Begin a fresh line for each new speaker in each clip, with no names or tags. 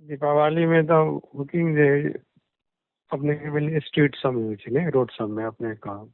दीपावलीमे तऽ बुकिंग जे अपनेके भेलै स्ट्रीट सबमे होइ छै ने रोड सबमे अपने कहब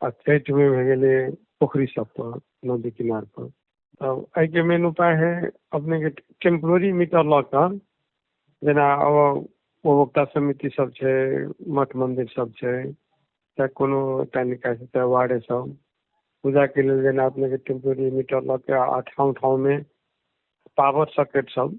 आ छठिमे भए गेलै पोखरी सब पर नदी किनार पर तब एहिके मेन उपाय है अपनेके टेम्पोररी मीटर लऽ कऽ जेना उपभोक्ता समिति सब छै मठ मन्दिर सब छै चाहे कोनो एकटा निकायसँ चाहे वार्डे सब पूजाके लेल जेना अपनेके टेम्पोररी मीटर लऽ कऽ आ ठाँव ठाँवमे पावर सॉकेट सब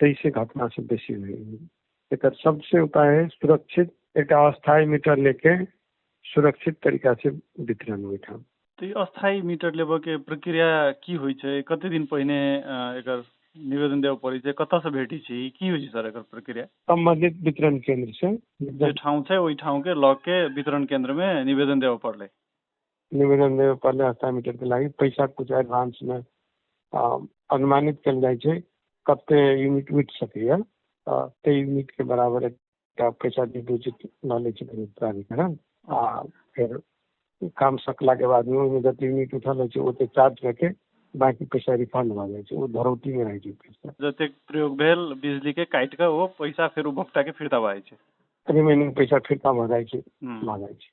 ताहिसँ घटना सब बेसी होइ एकर सबसँ उपाय अछि सुरक्षित एकटा अस्थायी मीटर लऽ कऽ सुरक्षित तरीकासँ वितरण ओहिठाम तऽ ई अस्थायी मीटर लेबऽके प्रक्रिया की होइ छै कते दिन पहिने एकर निवेदन देबऽ पड़ै छै कतऽसँ भेटै छै की होइ छै सर एकर प्रक्रिया सम्बन्धित वितरण केन्द्रसँ जे ठाउँ छै ओहि ठाउँके लऽ के वितरण केन्द्रमे निवेदन देबऽ पड़लै निवेदन देबय पड़लै हस्ता मीटरके लागि पैसा किछु एडवांसमे अनुमानित कयल जाइत छै कते यूनिट उठि सकैया तऽ ताहि यूनिटके बराबर एकटा पैसा डिपोजिट लऽ लै छै प्राधिकरण आ फेर काम सकलाके बादमे ओहिमे जते यूनिट उठल रहैत छै ओते चार्ज कऽ के बाँकी पैसा रिफंड भऽ जाइत छै ओ धरौटीमे रहैत छै पैसा जतेक प्रयोग भेल बिजलीके काटि कऽ ओ पैसा फेर उपभोक्ताके फिर्ता भऽ जाइत छै रिमेनिंग पैसा फिर्ता भऽ जाइत छै भऽ जाइत छै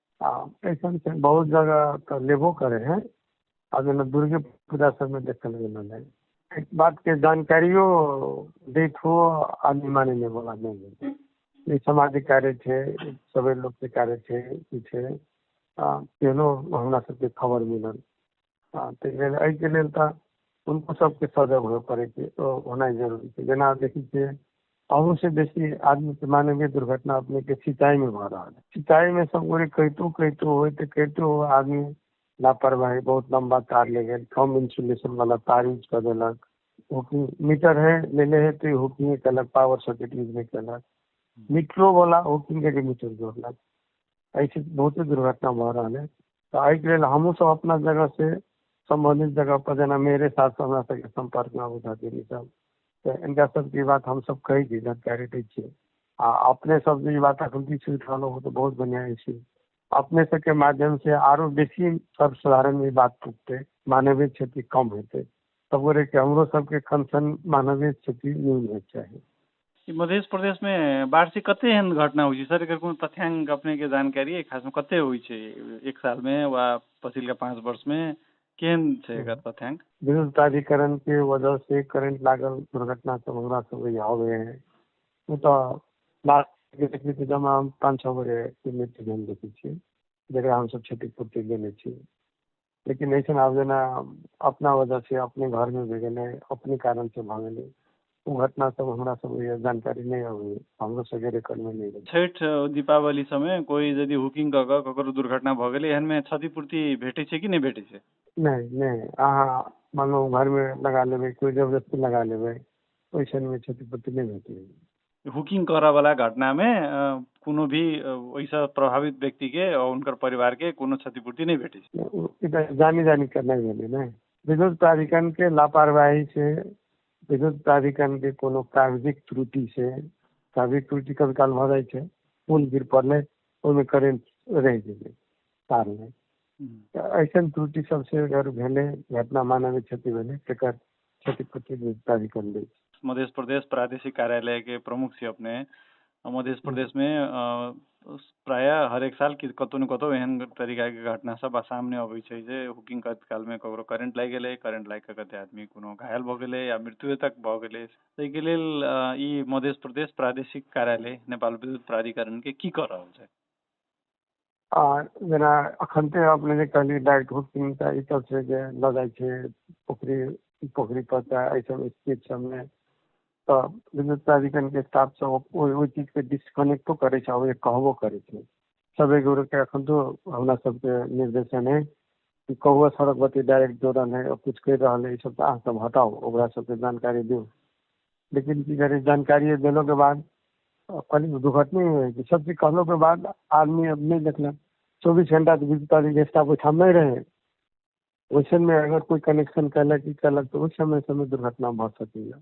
आ एखन तऽ बहुत जगह तऽ लेबो करै हइ आ जेना दुर्गे पूजा सभमे देखल गेल हन एहि बातके जानकारियो दैतो आदमी मानि लिअ बला नहि हइ ई समाजिक कार्य छै सबै लोकके कार्य छै ई छै आ केहनो हमरा सभके खबर मिलल हँ तऽ एहिके लेल तऽ हुनको सबके सजग होइ पड़ै छै होनाइ जरूरी छै जेना आब देखै छियै अहूँ से बेसी आदमीके मानवीय दुर्घटना अपनेके सिंचाइमे भऽ रहल अछि सिंचाइमे सब गोरे कहितो कहितो होइत तऽ कहितो आदमी लापरवाही बहुत लम्बा तार ले गेल कम इन्सुलेशन बला तार यूज कऽ देलक हुकिंग मीटर है लेने है तऽ हुकिंगे केलक पावर सर्किट यूज नहि केलक मीटरो बला हुकिंगेके मीटर जोड़लक एहिसँ बहुते दुर्घटना भऽ रहल अछि तऽ एहिके लेल हमहूँ सभ अपना जगहसँ सम्बन्धित जगहपर जेना मेरे साथ तऽ हमरा सभके सम्पर्कमे आबू तऽ ई सभ तऽ हिनका सभके ई बात हम सभ कहै छी जानकारी दै छी आ अपने सभ जे ई बात एखन तक सुनि रहलहुँ हेँ तऽ बहुत बढ़िआँ अछि अपने सभके माध्यमसँ आरो बेसी सभ साधारण ई बात पुगतै मानवीय क्षति कम हेतै सगरे के हमरो सभके कनसर्न मानवीय क्षति नहि होइके चाही मध्य प्रदेशमे वार्षिक कते एहन घटना होइ छै सर एकर कोनो तथ्यांक अपनेके जानकारी अइ खासमे कते होइ छै एक सालमे वा पछिलका पाँच वर्षमे केहन छै एकर तथ्यांक विद्युत प्राधिकरण के वजह से करंट लागल दुर्घटना सब हमरा सब यहाँ हो गए हैं वो तो लास्ट के देखने के जमा हम पाँच छः बजे के मृत्यु हम देखे छियै जकरा हम सब क्षतिपूर्ति देने छियै लेकिन अइसन आब जेना अपना वजह से अपने घर मे भए गेलै अपने कारण से भए गेलै ओ घटना सब हमरा सब जानकारी नहि अबै हमरो सबके रेकर्ड में नहीं रहै छठि दीपावली समय कोई यदि हुकिंग कऽ कऽ ककरो दुर्घटना भऽ गेलै एहन में क्षतिपूर्ति भेटै छै कि नहि भेटै छै नहीं नहीं अहाँ मानो घर में लगा लेबै कोई जबरदस्ती लगा लेबै ओइसन में क्षतिपूर्ति नहि भेटै हुकिंग करऽ वाला घटना में कोनो भी ओहि से प्रभावित व्यक्ति के और उनकर परिवार के कोनो क्षतिपूर्ति नहीं भेटी जानी जानी करना भेले ना विद्युत प्राधिकरण के लापरवाही से विद्युत प्राधिकरण के कोनो कागजिक त्रुटि से कागजिक त्रुटि कभी काल भऽ जाइ छै पुल गिर पड़लै ओहिमे करेंट रहि गेलै तार नहि ऐसन त्रुटि सबसे अगर भेलै घटना मानवीय क्षति भेलै तकर क्षतिपूर्ति विविधता भी कर ली मध्य प्रदेश प्रादेशिक कार्यालय के प्रमुख से अपने मध्य प्रदेश में प्राय हरेक साल कि कतहु ने कतहु एहन तरीकाके घटना सब सामने अबै छै जे हुकिंग करत कालमे ककरो करेंट लागि गेलै करेंट लागि कऽ कते आदमी कोनो घायल भऽ गेलै या मृत्युए तक भऽ गेलै ताहिके लेल ई मध्य प्रदेश प्रादेशिक कार्यालय नेपाल विद्युत प्राधिकरणके की कऽ रहल छै अखन तऽ अपने जे कहलियै डाइट हूट किनका ई सब छै जे लऽ जाइ छै पोखरि पोखरि पर तऽ एहि सब स्थित सबमे तऽ विद्युत प्राधिकरणके स्टाफ सब ओहि चीजके डिस्कनेक्टो करै छै आओर कहबो करै छै सब एक गोरेके अखन तऽ हमरा सबके निर्देशन अछि कि कौआ सड़क पर डाइरेक्ट दौड़ल हय किछु कहि रहल हय ई सब तऽ अहाँ सब हटाउ ओकरा सबके जानकारी दियौ लेकिन की करै जानकारिये देलहुँ के बाद अपन दुर्घटने होइ छै सब चीज कहलहुँ के बाद आदमी आब नहि देखलक चौबीस घण्टा तऽ बुझिते छियै जे स्टाफ ओहिठाम नहि रहै ओहिसबमे अगर कोइ कनेक्शन केलक ई केलक तऽ ओहि सबमे कोनो दुर्घटना भऽ सकैया